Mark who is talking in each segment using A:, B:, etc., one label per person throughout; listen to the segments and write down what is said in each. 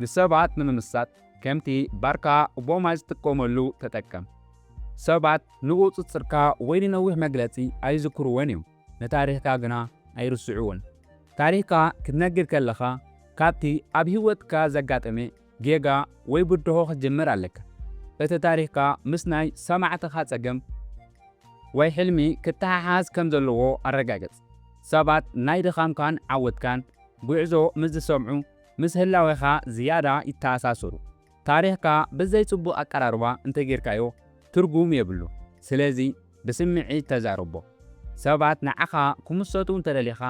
A: ንሰባት ንምምሳጥ ከምቲ ባርካ ኦባማ ዝጥቀመሉ ተጠቀም። ሰባት ንቁጽጽርካ ወይ ንነዊሕ መግለጺ ኣይዝክርዎን እዮም፣ ንታሪኽካ ግና ኣይርስዕዎን። ታሪኽካ ክትነግር ከለኻ ካብቲ ኣብ ህይወትካ ዘጋጠመ ጌጋ ወይ ብድሆ ክትጅምር ኣለካ። እቲ ታሪኽካ ምስ ናይ ሰማዕትኻ ጸገም ወይ ሕልሚ ክተሓሓዝ ከም ዘለዎ ኣረጋግጽ። ሰባት ናይ ድኻምካን ዓወትካን ጒዕዞ ምስ ዝሰምዑ ምስ ህላዌኻ ዝያዳ ይተኣሳሰሩ። ታሪኽካ ብዘይ ጽቡቕ ኣቀራርባ እንተጌርካዮ ትርጉም የብሉ። ስለዚ ብስምዒት ተዛረቦ። ሰባት ንዓኻ ክምሰጡ እንተደሊኻ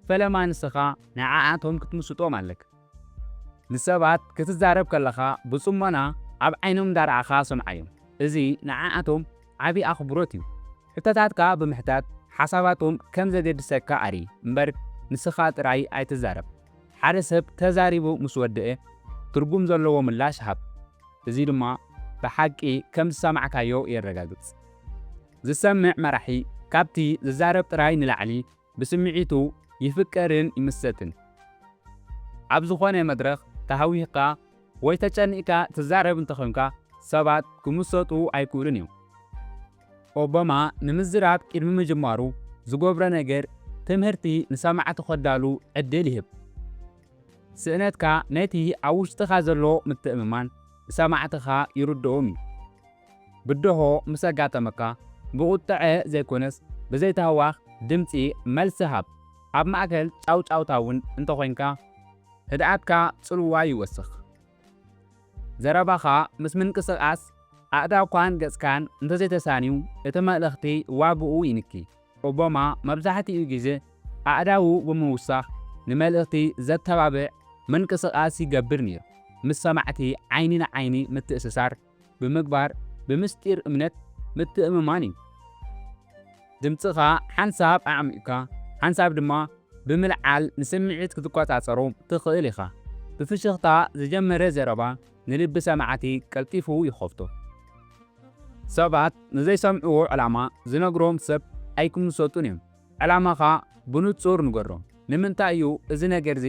A: ፈለማ ንስኻ ንዓኣቶም ክትምስጦም ኣለካ። ንሰባት ክትዛረብ ከለኻ ብጽሞና ኣብ ዓይኖም እንዳረኣኻ ስምዓዮም። እዚ ንዓኣቶም ዓቢ ኣኽብሮት እዩ። ሕቶታትካ ብምሕታት ሓሳባቶም ከም ዘገድሰካ ኣርኢ እምበር ንስኻ ጥራይ ኣይትዛረብ። ሓደ ሰብ ተዛሪቡ ምስ ወደኤ ትርጉም ዘለዎ ምላሽ ሃብ። እዚ ድማ ብሓቂ ከም ዝሰማዕካዮ የረጋግጽ። ዝሰምዕ መራሒ ካብቲ ዝዛረብ ጥራይ ንላዕሊ ብስምዒቱ ይፍቀርን ይምሰጥን። ኣብ ዝኾነ መድረኽ ተሃዊኽካ ወይ ተጨኒቕካ ትዛረብ እንተኾይንካ ሰባት ክምሰጡ ኣይክእሉን እዮም። ኦባማ ንምዝራብ ቅድሚ ምጅማሩ ዝገብሮ ነገር ትምህርቲ ንሰማዕቱ ከዳሉ ዕድል ይህብ። ስእነትካ ነቲ ኣብ ውሽጥኻ ዘሎ ምትእምማን ንሰማዕትኻ ይርድኦም እዩ። ብደሆ ምስ ኣጋጠመካ፣ ብቑጥዐ ዘይኮነስ ብዘይታህዋኽ ድምጺ መልሲ ሃብ። ኣብ ማእከል ጫውጫውታ እውን እንተ ኾይንካ፣ ህድኣትካ ጽልዋ ይወስኽ። ዘረባኻ ምስ ምንቅስቓስ ኣእዳውካን ገጽካን እንተ ዘይተሳንዩ፣ እቲ መልእኽቲ ዋጋኡ ይንኪ። ኦባማ መብዛሕትኡ ግዜ ኣእዳዉ ብምውሳኽ ንመልእኽቲ ዘተባብዕ ምንቅስቓስ ይገብር ነይሩ፣ ምስ ሰማዕቲ ዓይኒ ንዓይኒ ምትእስሳር፣ ብምግባር ብምስጢር እምነት ምትእምማን እዩ። ድምጽኻ ሓንሳብ ኣዕሚቝካ ሓንሳብ ድማ ብምልዓል ንስምዒት ክትቈጻጸሮ ትኽእል ኢኻ። ብፍሽኽታ ዝጀመረ ዘረባ ንልቢ ሰማዕቲ ቀልጢፉ ይኸፍቶ። ሰባት ንዘይሰምዕዎ ዕላማ ዝነግሮም ሰብ ኣይክምሰጡን እዮም። ዕላማኻ ብንጹር ንገሮም። ንምንታይ እዩ እዚ ነገር'ዚ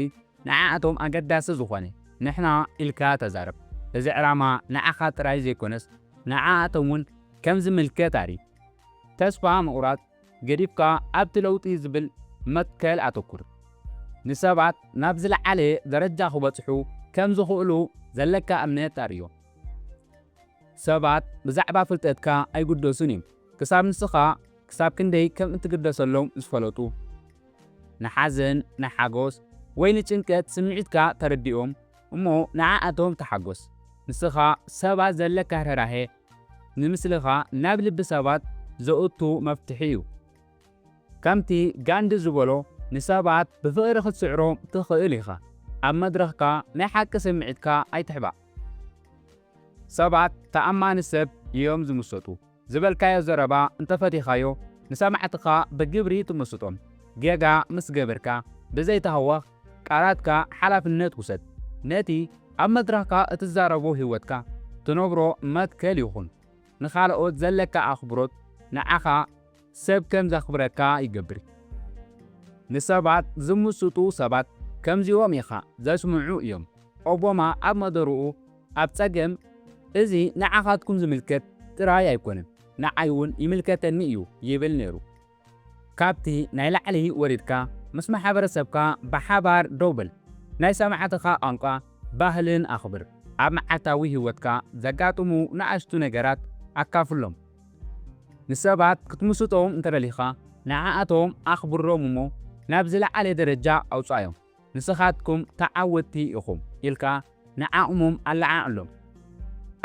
A: ንዓኣቶም ኣገዳሲ ዝኾነ? ንሕና ኢልካ ተዛረብ። እዚ ዕላማ ንዓኻ ጥራይ ዘይኮነስ ንዓኣቶም'ውን ከም ዝምልከት ኣርኢ። ተስፋ ምቑራጽ ገዲፍካ ኣብቲ ለውጢ ዝብል መትከል ኣተኩር። ንሰባት ናብ ዝለዓለ ደረጃ ክበጽሑ ከም ዝኽእሉ ዘለካ እምነት ኣርእዮም። ሰባት ብዛዕባ ፍልጠትካ ኣይግደሱን እዮም። ክሳብ ንስኻ ክሳብ ክንደይ ከም እትግደሰሎም ዝፈለጡ፣ ንሓዘን፣ ንሓጎስ ወይ ንጭንቀት ስምዒትካ ተረድኦም እሞ ንዓኣቶም ተሓጎስ። ንስኻ ሰባት ዘለካ ርህራሄ ንምስልኻ ናብ ልቢ ሰባት ዘእቱ መፍትሒ እዩ። ከምቲ ጋንዲ ዝበሎ ንሰባት ብፍቕሪ ክትስዕሮም ትኽእል ኢኻ፣ ኣብ መድረኽካ ናይ ሓቂ ስምዒትካ ኣይትሕባእ። ሰባት ተኣማኒ ሰብ እዮም ዝምሰጡ። ዝበልካዮ ዘረባ እንተፈቲኻዮ ንሰማዕትኻ ብግብሪ ትምስጦም። ጌጋ ምስ ገበርካ ብዘይ ታህዋኽ ቃላትካ ሓላፍነት ውሰድ። ነቲ ኣብ መድረኽካ እትዛረቦ ህይወትካ ትነብሮ መትከል ይኹን። ንኻልኦት ዘለካ ኣኽብሮት ንዓኻ ሰብ ከም ዘኽብረካ ይገብር። ንሰባት ዝምስጡ ሰባት ከምዚኦም ኢኻ ዘስምዑ እዮም። ኦቦማ ኣብ መደርኡ ኣብ ጸገም እዚ ንዓኻትኩም ዝምልከት ጥራይ ኣይኮነን ንዓይ ውን ይምልከተኒ እዩ ይብል ኔሩ። ካብቲ ናይ ላዕሊ ወሪድካ ምስ ማሕበረሰብካ ብሓባር ደው በል፣ ናይ ሰማዕትኻ ቋንቋ ባህልን ኣኽብር፣ ኣብ መዓልታዊ ሂወትካ ዘጋጥሙ ንኣሽቱ ነገራት ኣካፍሎም። ንሰባት ክትምስጦም እንተደሊኻ ንዓኣቶም ኣኽብሮም እሞ ናብ ዝለዓለ ደረጃ ኣውጽኣዮም። ንስኻትኩም ተዓወትቲ ኢኹም ኢልካ ንዓቕሞም ኣለዓዕሎም።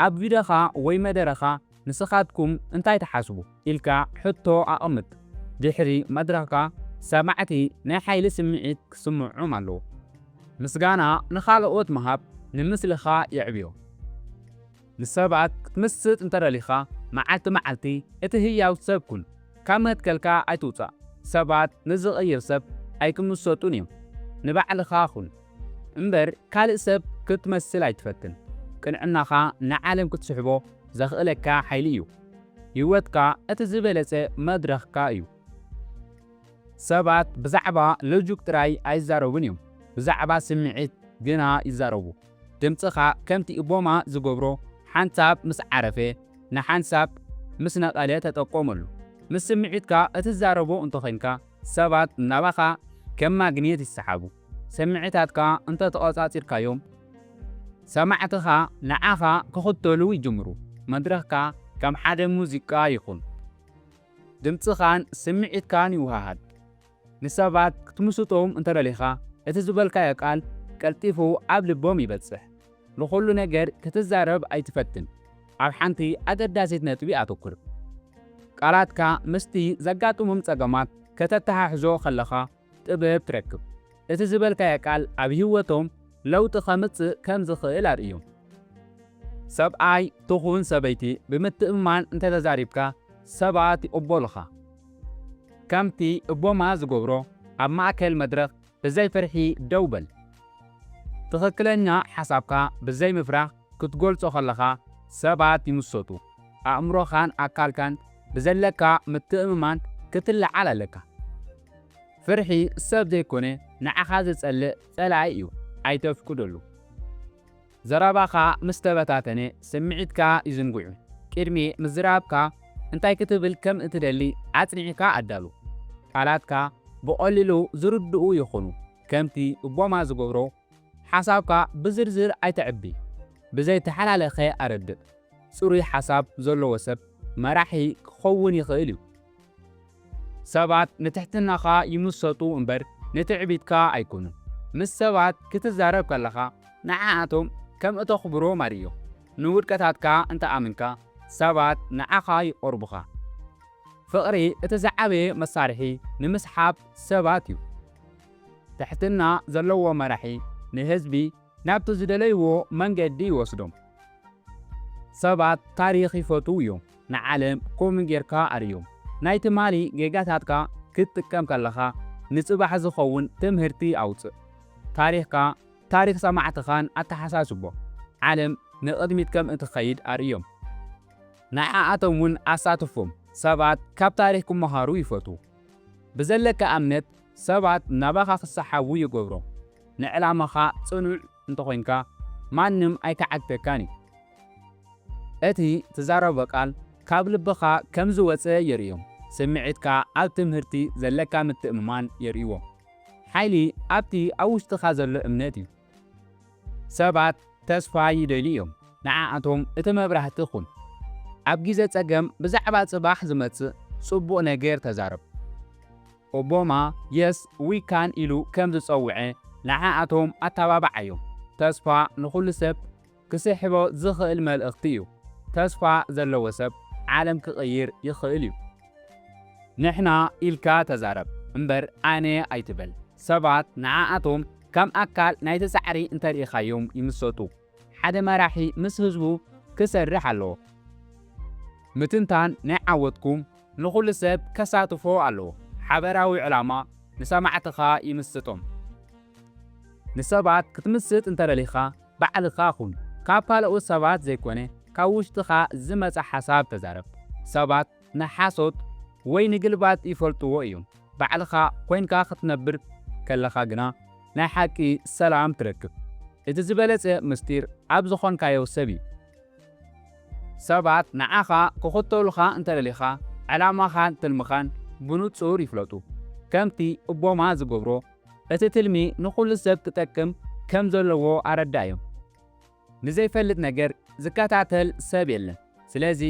A: ኣብ ቪድዮኻ ወይ መደረኻ ንስኻትኩም እንታይ ትሓስቡ ኢልካ ሕቶ ኣቐምጥ። ድሕሪ መድረኽካ ሰማዕቲ ናይ ሓይሊ ስምዒት ክስምዖም ኣለዎ። ምስጋና ንኻልኦት ምሃብ ንምስልኻ የዕብዮ። ንሰባት ክትምስጥ እንተ ደሊኻ፣ መዓልቲ መዓልቲ እቲ ህያው ሰብ ኩን። ካብ መትከልካ ኣይትውጻእ። ሰባት ንዚቕይር ሰብ ኣይኪምሰጡን እዮም። ንባዕልኻ ኩን። እምበር ካልእ ሰብ ክትመስል ኣይትፈትን። ቅንዕናኻ ንዓለም ክትስሕቦ ዘኽእለካ ሓይሊ እዩ። ህይወትካ እቲ ዝበለጸ መድረኽካ እዩ። ሰባት ብዛዕባ ሎጂክ ጥራይ ኣይዛረቡን እዮም፣ ብዛዕባ ስምዒት ግና ይዛረቡ። ድምጽኻ ከምቲ እቦማ ዝገብሮ ሓንሳብ ምስ ዓረፈ ንሓንሳብ ምስ ነቐለ ተጠቀመሉ። ምስ ስምዒትካ እትዛረቦ እንተዄንካ ሰባት ናባኻ ከም ማግኔት ይሰሓቡ። ስምዒታትካ እንተተቖጻጺርካዮም ሰማዕትኻ ንዓኻ ክኽተሉ ይጅምሩ። መድረኽካ ከም ሓደ ሙዚቃ ይኹን። ድምጽኻን ስምዒትካን ይወሃሃድ። ንሰባት ክትምስጦም እንተ ደሊኻ፣ እቲ ዝበልካዮ ቃል ቀልጢፉ ኣብ ልቦም ይበጽሕ። ንዅሉ ነገር ክትዛረብ ኣይትፈትን፣ ኣብ ሓንቲ ኣገዳሲት ነጥቢ ኣተኵር። ቃላትካ ምስቲ ዘጋጥሞም ጸገማት ከተተሓሕዞ ኸለኻ ጥበብ ትረክብ። እቲ ዝበልካዮ ቃል ኣብ ህይወቶም ለውጢ ኸምጽእ ከም ዝኽእል ኣርእዮም። ሰብኣይ ትኹን ሰበይቲ ብምትእምማን እንተ ተዛሪብካ፣ ሰባት ይቕበሉኻ። ከምቲ እቦማ ዝገብሮ ኣብ ማእከል መድረኽ ብዘይ ፍርሒ ደው በል። ትኽክለኛ ሓሳብካ ብዘይ ምፍራህ ክትገልጾ ከለኻ ሰባት ይምሰጡ። ኣእምሮኻን ኣካልካን ብዘለካ ምትእምማን ክትለዓል ኣለካ። ፍርሒ ሰብ ዘይኮነ ንዓኻ ዝጸልእ ጸላኢ እዩ ኣይተፍቅደሉ። ዘረባኻ ምስ ተበታተነ ስምዒትካ ይዝንግዑ። ቅድሚ ምዝራብካ እንታይ ክትብል ከም እትደሊ ኣጽኒዕካ ኣዳሉ። ቃላትካ ብቐሊሉ ዝርድኡ ይኹኑ። ከምቲ ኡባማ ዝገብሮ፣ ሓሳብካ ብዝርዝር ኣይተዕቢ። ብዘይተሓላለኸ ኣረድእ። ጽሩይ ሓሳብ ዘለዎ ሰብ መራሒ ክኸውን ይኽእል እዩ። ሰባት ንትሕትናኻ ይምሰጡ እምበር ንትዕቢትካ ኣይኮኑን። ምስ ሰባት ክትዛረብ ከለኻ ንዓኣቶም ከም እተኽብሮም ኣርእዮም። ንውድቀታትካ እንተ ኣሚንካ ሰባት ንዓኻ ይቐርቡኻ። ፍቕሪ እቲ ዝዓበየ መሳርሒ ንምስሓብ ሰባት እዩ። ትሕትና ዘለዎ መራሒ ንህዝቢ ናብቲ ዝደለይዎ መንገዲ ይወስዶም። ሰባት ታሪኽ ይፈትዉ እዮም። ንዓለም ኮምኡ ጌርካ ኣርእዮም። ናይ ትማሊ ጌጋታትካ ክትጥቀም ከለኻ ንጽባሕ ዝኸውን ትምህርቲ ኣውጽእ። ታሪኽካ ታሪኽ ሰማዕትኻን ኣተሓሳስቦ። ዓለም ንቕድሚት ከም እትኸይድ ኣርእዮም። ንዓኣቶም'ውን ኣሳትፎም። ሰባት ካብ ታሪኽ ክመሃሩ ይፈትዉ። ብዘለካ እምነት ሰባት ናባኻ ክሰሓቡ ይገብሮም። ንዕላማኻ ጽኑዕ እንተኾይንካ ማንም ኣይከዓግተካን እዩ። እቲ ትዛረቦ ቃል ካብ ልብኻ ከም ዝወጸ የርእዮም። ስምዒትካ ኣብ ትምህርቲ ዘለካ ምትእምማን የርእይዎ። ሓይሊ ኣብቲ ኣብ ውሽጥኻ ዘሎ እምነት እዩ። ሰባት ተስፋ ይደልዩ እዮም። ንዓኣቶም እቲ መብራህቲ ኩን። ኣብ ግዜ ጸገም ብዛዕባ ጽባሕ ዝመጽእ ጽቡቕ ነገር ተዛረብ። ኦቦማ የስ ዊ ካን ኢሉ ከም ዝጸውዐ ንዓኣቶም ኣተባብዓዮም። ተስፋ ንኹሉ ሰብ ክስሕቦ ዝኽእል መልእኽቲ እዩ። ተስፋ ዘለዎ ሰብ ዓለም ክቕይር ይኽእል እዩ። ንሕና ኢልካ ተዛረብ እምበር ኣነ ኣይትበል። ሰባት ንዓኣቶም ከም ኣካል ናይቲ ጻዕሪ እንተርኢኻዮም ይምሰጡ። ሓደ መራሒ ምስ ህዝቡ ክሰርሕ ኣለዎ። ምትንታን ናይ ዓወትኩም ንኹሉ ሰብ ከሳትፎ ኣለዎ። ሓበራዊ ዕላማ ንሰማዕትኻ ይምስጦም። ንሰባት ክትምስጥ እንተደሊኻ ባዕልኻ ኩን። ካብ ካልኦት ሰባት ዘይኮነ ካብ ውሽጥኻ ዝመጸ ሓሳብ ተዛረብ። ሰባት ንሓሶት ወይ ንግልባጥ ይፈልጥዎ እዮም። ባዕልኻ ኮይንካ ክትነብር ከለኻ ግና ናይ ሓቂ ሰላም ትረክብ። እቲ ዝበለጸ ምስጢር ኣብ ዝኾንካዮ ሰብ እዩ። ሰባት ንዓኻ ክኽተሉኻ እንተደሊኻ ዕላማኻን ትልምኻን ብንጹር ይፍለጡ። ከምቲ ኦቦማ ዝገብሮ እቲ ትልሚ ንኹሉ ሰብ ክጠቅም ከም ዘለዎ ኣረዳእዮም። ንዘይፈልጥ ነገር ዝከታተል ሰብ የለን። ስለዚ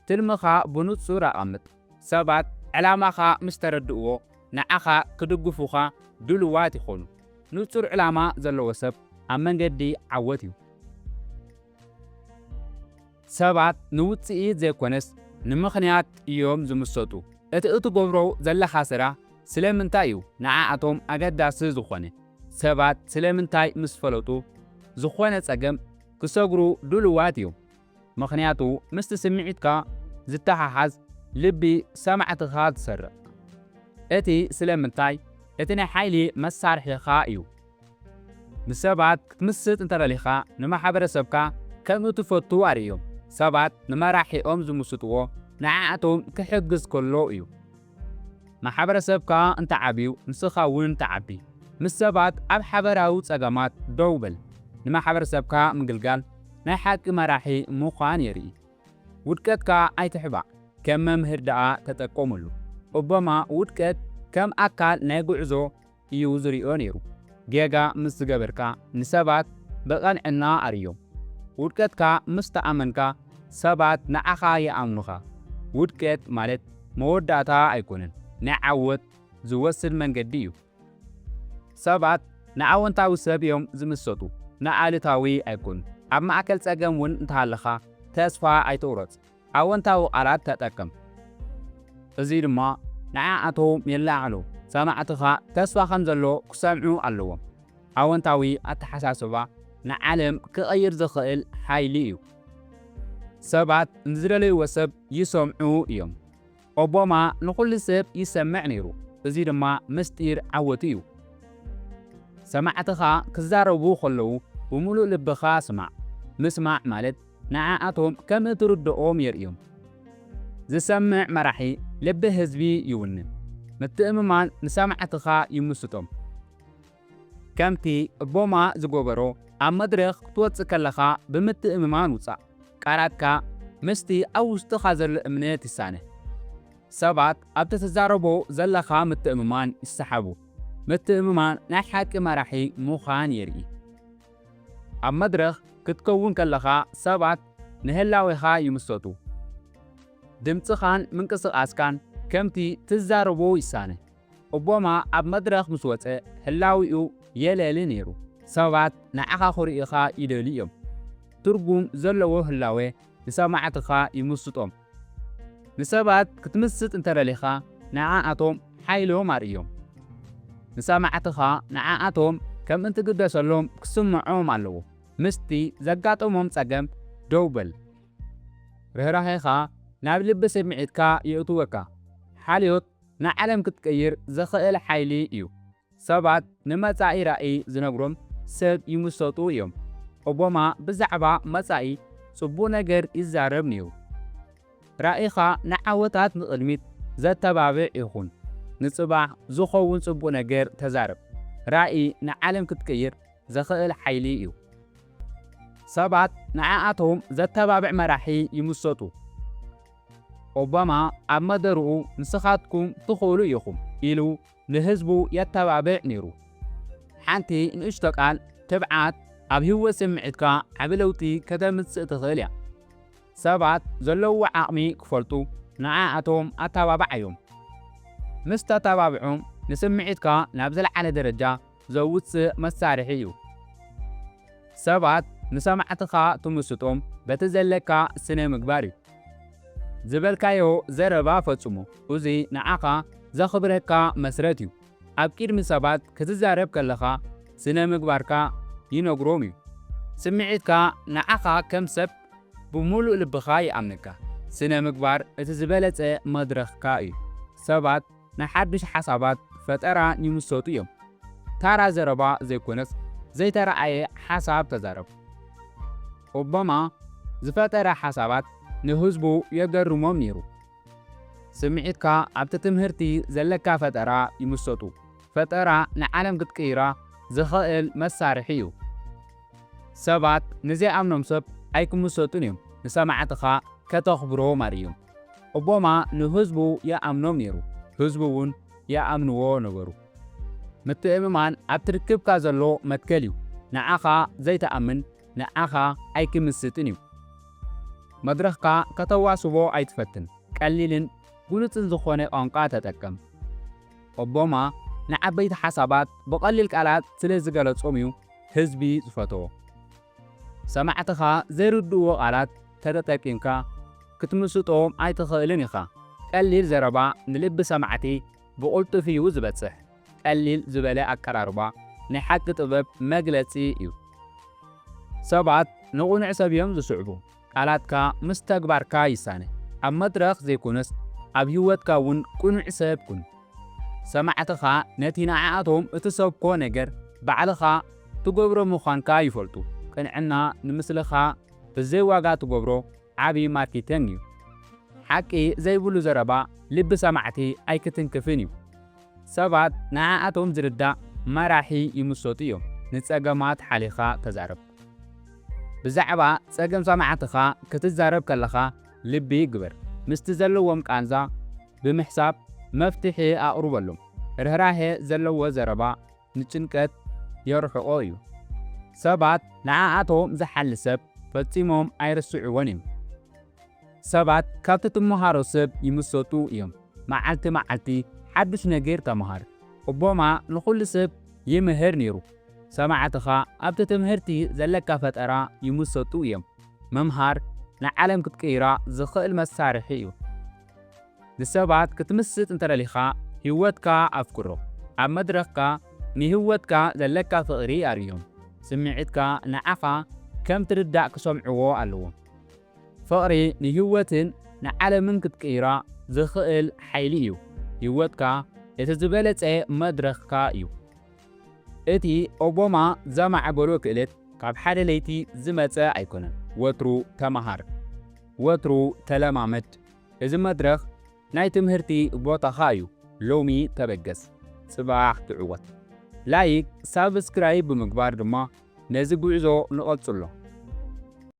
A: ትልምኻ ብንጹር ኣቐምጥ። ሰባት ዕላማኻ ምስ ተረድእዎ ንዓኻ ክድግፉኻ ድሉዋት ይኾኑ። ንጹር ዕላማ ዘለዎ ሰብ ኣብ መንገዲ ዓወት እዩ። ሰባት ንውጽኢት ዘይኮነስ ንምኽንያት እዮም ዝምሰጡ። እቲ እትገብሮ ዘለኻ ስራሕ ስለምንታይ እዩ ንዓኣቶም ኣገዳሲ ዝኾነ? ሰባት ስለምንታይ ምስ ፈለጡ ዝኾነ ጸገም ክሰግሩ ድሉዋት እዮም? ምኽንያቱ ምስቲ ስምዒትካ ዝተሓሓዝ ልቢ ሰማዕትኻ ዝሰርቕ እቲ ስለምንታይ እቲ ናይ ሓይሊ መሳርሒኻ እዩ። ምስ ሰባት ክትምስጥ እንተደሊኻ ንማሕበረሰብካ ከም እትፈቱ ኣርእዮም። ሰባት ንመራሒኦም ዝምስጥዎ ንዓኣቶም ክሕግዝ ከሎ እዩ። ማሕበረሰብካ እንተዓብዩ ንስኻ እውን ትዓቢ። ምስ ሰባት ኣብ ሓበራዊ ፀገማት ደው በል። ንማሕበረሰብካ ምግልጋል ናይ ሓቂ መራሒ ምዃን የርኢ። ውድቀትካ ኣይትሕባእ፣ ከም መምህር ደኣ ተጠቀመሉ። ኦባማ ውድቀት ከም ኣካል ናይ ጉዕዞ እዩ ዝሪኦ ነይሩ። ጌጋ ምስ ዝገበርካ ንሰባት ብቐንዕና ኣርእዮም። ውድቀትካ ምስ ተኣመንካ ሰባት ንዓኻ ይኣምኑኻ። ውድቀት ማለት መወዳእታ ኣይኮነን፣ ናይ ዓወት ዝወስድ መንገዲ እዩ። ሰባት ንኣወንታዊ ሰብ እዮም ዝምሰጡ፣ ንኣሉታዊ ኣይኮኑን። ኣብ ማእከል ጸገም እውን እንተሃለኻ ተስፋ ኣይትቑረጽ። ኣወንታዊ ቃላት ተጠቅም፣ እዚ ድማ ንዓኣቶም የለዓዕሎ። ሰማዕትኻ ተስፋ ከም ዘሎ ክሰምዑ ኣለዎም። ኣወንታዊ ኣተሓሳስባ ንዓለም ክቕይር ዝኽእል ሓይሊ እዩ። ሰባት ንዝደለይዎ ሰብ ይሰምዑ እዮም። ኦቦማ ንኹሉ ሰብ ይሰምዕ ነይሩ፣ እዚ ድማ ምስጢር ዓወቱ እዩ። ሰማዕትኻ ክዛረቡ ከለዉ ብምሉእ ልብኻ ስማዕ፣ ምስማዕ ማለት ንዓኣቶም ከም እትርድኦም የርእዮም። ዝሰምዕ መራሒ ልቢ ህዝቢ ይውንን፣ ምትእምማን ንሰማዕትኻ ይምስጦም። ከምቲ ቦማ ዝገበሮ፣ ኣብ መድረኽ ክትወጽእ ከለኻ ብምትእምማን ውጻእ። ቃላትካ ምስቲ ኣብ ውሽጥኻ ዘሎ እምነት ይሳነ። ሰባት ኣብቲ ትዛረቦ ዘለኻ ምትእምማን ይሰሓቡ። ምትእምማን ናይ ሓቂ መራሒ ምዃን የርኢ። ኣብ መድረኽ ክትከውን ከለኻ ሰባት ንህላዌኻ ይምሰጡ። ድምጽኻን ምንቅስቓስካን ከምቲ ትዛረቦ ይሳነ። ኦቦማ ኣብ መድረኽ ምስ ወጸ ህላዊኡ የለሊ ነይሩ። ሰባት ንዓኻ ክርእዩኻ ይደልዩ እዮም። ትርጉም ዘለዎ ህላወ ንሰማዕትኻ ይምስጦም። ንሰባት ክትምስጥ እንተ ደሊኻ ንዓኣቶም ሓይሎም ኣርእዮም። ንሰማዕትኻ ንዓኣቶም ከም እትግደሰሎም ክስምዖም ኣለዎ። ምስቲ ዘጋጠሞም ጸገም ደው በል። ርህራሄኻ ናብ ልቢ ስምዒትካ የእትወካ። ሓልዮት ንዓለም ክትቅይር ዝኽእል ሓይሊ እዩ። ሰባት ንመጻኢ ራኢ ዝነግሮም ሰብ ይምሰጡ እዮም። ኦቦማ ብዛዕባ መጻኢ ጽቡቅ ነገር ይዛረብ ኔሩ። ራኢኻ ንዓወታት ንቅድሚት ዘተባብዕ ይኹን። ንጽባሕ ዝኸውን ጽቡቅ ነገር ተዛረብ። ራኢ ንዓለም ክትቅይር ዝኽእል ሓይሊ እዩ። ሰባት ንዓኣቶም ዘተባብዕ መራሒ ይምሰጡ። ኦባማ ኣብ መደርኡ ንስኻትኩም ትኽእሉ ኢኹም ኢሉ ንህዝቡ የተባብዕ ነይሩ። ሓንቲ ንእሽቶ ቃል ትብዓት ኣብ ህይወት ስምዒትካ ዓቢ ለውጢ ከተምጽእ ትኽእል እያ። ሰባት ዘለውዎ ዓቕሚ ክፈልጡ ንዓኣቶም ኣተባብዓዮም። ምስ ተተባብዖም ንስምዒትካ ናብ ዝለዓለ ደረጃ ዘውጽእ መሳርሒ እዩ። ሰባት ንሰማዕትኻ ትምስጦም በቲ ዘለካ ስነ ምግባር እዩ። ዝበልካዮ ዘረባ ፈጽሞ እዚ ንዓኻ ዘኽብረካ መስረት እዩ። ኣብ ቂድሚ ሰባት ክትዛረብ ከለኻ ስነ ምግባርካ ይነግሮም እዩ። ስምዒትካ ንዓኻ ከም ሰብ ብምሉእ ልብኻ ይኣምነካ። ስነ ምግባር እቲ ዝበለጸ መድረኽካ እዩ። ሰባት ናይ ሓዱሽ ሓሳባት ፈጠራ ይምሰጡ እዮም። ታራ ዘረባ ዘይኮነስ ዘይተራኣየ ሓሳብ ተዛረብ። ኦባማ ዝፈጠረ ሓሳባት ንህዝቡ የገርሞም ነይሩ። ስምዒትካ ኣብቲ ትምህርቲ ዘለካ ፈጠራ ይምሰጡ። ፈጠራ ንዓለም ክትቅይራ ዝኸእል መሳርሒ እዩ። ሰባት ንዘይኣምኖም ሰብ ኣይክምሰጡን እዮም ንሰማዕትኻ ከተኽብሮም ኣርእዮም። ኦቦማ ንህዝቡ ይኣምኖም ነይሩ ህዝቡ ውን ይኣምንዎ ነበሩ ምትእምማን ኣብቲ ርክብካ ዘሎ መትከል ዩ ንዓኻ ዘይትኣምን ንዓኻ ኣይክምስጥን ዩ መድረኽካ ከተዋስቦ ኣይትፈትን ቀሊልን ግሉጽን ዝኾነ ቋንቋ ተጠቀም ኦቦማ ንዓበይቲ ሓሳባት ብቐሊል ቃላት ስለ ዝገለጾም ዩ ህዝቢ ዝፈተዎ። ሰማዕትኻ ዘይርድእዎ ቃላት ተተጠቂምካ ክትምስጦም ኣይትኽእልን ኢኻ። ቀሊል ዘረባ ንልቢ ሰማዕቲ ብቕልጡፍ እዩ ዝበጽሕ። ቀሊል ዝበለ ኣቀራርባ ናይ ሓቂ ጥበብ መግለጺ እዩ። ሰባት ንቕኑዕ ሰብ እዮም ዝስዕቡ። ቃላትካ ምስ ተግባርካ ይሳነ። ኣብ መድረኽ ዘይኮነስ ኣብ ህይወትካ እውን ቅኑዕ ሰብ ኩን። ሰማዕትኻ ነቲ ንዓኣቶም እትሰብኮ ነገር ባዕልኻ ትገብሮ ምዃንካ ይፈልጡ። ቅንዕና ንምስልኻ ብዘይ ዋጋ ትገብሮ ዓቢ ማርኬቲንግ እዩ። ሓቂ ዘይብሉ ዘረባ ልቢ ሰማዕቲ ኣይክትንክፍን እዩ። ሰባት ንዓኣቶም ዝርዳእ መራሒ ይምሰጡ እዮም። ንጸገማት ሓሊኻ ተዛረብ። ብዛዕባ ጸገም ሰማዕትኻ ክትዛረብ ከለኻ ልቢ ግበር። ምስቲ ዘለዎም ቃንዛ ብምሕሳብ መፍትሒ ኣቕርበሎም። ርህራሄ ዘለዎ ዘረባ ንጭንቀት የርሕቖ እዩ። ሰባት ንዓኣቶም ዝሓሊ ሰብ ፈጺሞም ኣይርስዕዎን እዮም። ሰባት ካብቲ ትመሃሮ ሰብ ይምሰጡ እዮም። መዓልቲ መዓልቲ ሓዱሽ ነገር ተመሃር። ኦባማ ንኹሉ ሰብ ይምህር ነይሩ። ሰማዕትኻ ኣብቲ ትምህርቲ ዘለካ ፈጠራ ይምሰጡ እዮም። ምምሃር ንዓለም ክትቅይራ ዝኽእል መሳርሒ እዩ። ንሰባት ክትምስጥ እንተደሊኻ ህይወትካ ኣፍቅሮ። ኣብ መድረኽካ ንህይወትካ ዘለካ ፍቕሪ ኣርእዮም። ስምዒትካ ንዓኻ ከም ትርዳእ ክሰምዕዎ ኣለዎም። ፍቕሪ ንህይወትን ንዓለምን ክትቅይራ ዝኽእል ሓይሊ እዩ። ህይወትካ እቲ ዝበለጸ መድረኽካ እዩ። እቲ ኦቦማ ዘማዕበሎ ክእለት ካብ ሓደ ለይቲ ዝመጸ ኣይኮነን። ወትሩ ተመሃር። ወትሩ ተለማመድ። እዚ መድረኽ ናይ ትምህርቲ ቦታኻ እዩ። ሎሚ ተበገስ። ጽባሕ ትዕወት። ላይክ ሳብስክራይብ ብምግባር ድማ ነዚ ጉዕዞ ንቐጽሎ።